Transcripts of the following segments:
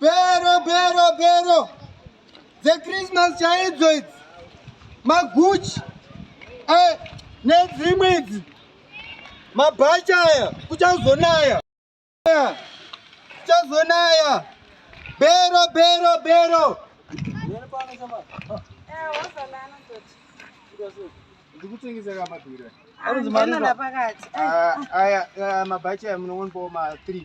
Bhero bhero bhero dzechristmas chaidzo idzi maguchi eh, nedzimwe idzi mabhachi aya kuchazonaya kuchazonaya bhero bhero bhero ndikutengeseka madhura anonzi mari aya mabhachi aya munoonpawo ma 3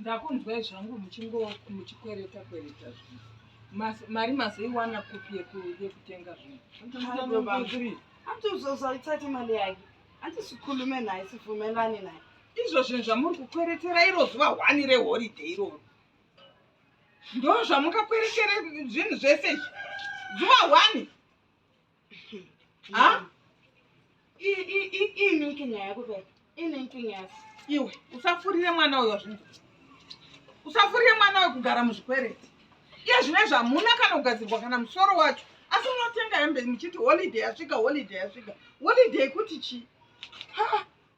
ndakunzwai zvangu muchikwereta kwereta zvinhu mari mazoiwana kupi yekutenga zvinhu andizozoitsati mari yake andisikhulume naye sivumelane naye izvo zvinhu zvamuri kukweretera iro zuva hwani reholiday iroro ndozvamukakwerekere zvinhu zvese izvi zuva one ha ininkinga yako pe ininkinga yako iwe usafurire mwana uyo zvinhu usafurire mwana uyo kugara muzvikwereti iye zvine zvamuna kana kugadzirwa kana musoro wacho asi unotenga hembe muchiti holiday yasvika holiday yasvika holiday kuti chii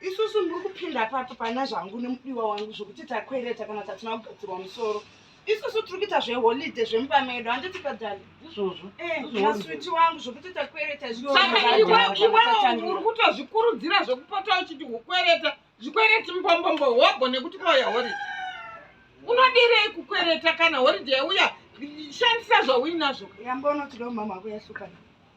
isusu muri kupinda papi pana zvangu nemudiwa wangu zvokuti takwereta kana tatina kugadzirwa musoro isusu tiri kuita zveholide zvemumba medu handiti kadhali izvozvo eh, maswiti wangu zvokuti takwereta iweuri kutozvikurudzira zvekupota uchiti ukwereta zvikwereti mbombombo hobho nekuti kwauya horide unodirei kukwereta kana horide yauya shandisa zvauinazvo yambonotidomama kuyahlukana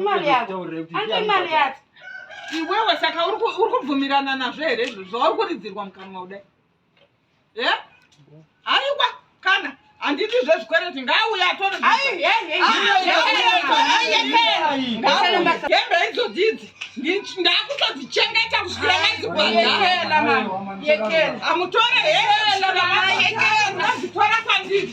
imari yako anti imari yati iwewe saka uri kubvumirana nazvo here izvo zvauri kuridzirwa mukanwa kudai e haiwa kana handiti zvezvikwereti ngaauya atorehembe idzodidzi ndakutodzichengeta kusiaaiamutore heeadzitora kwandiri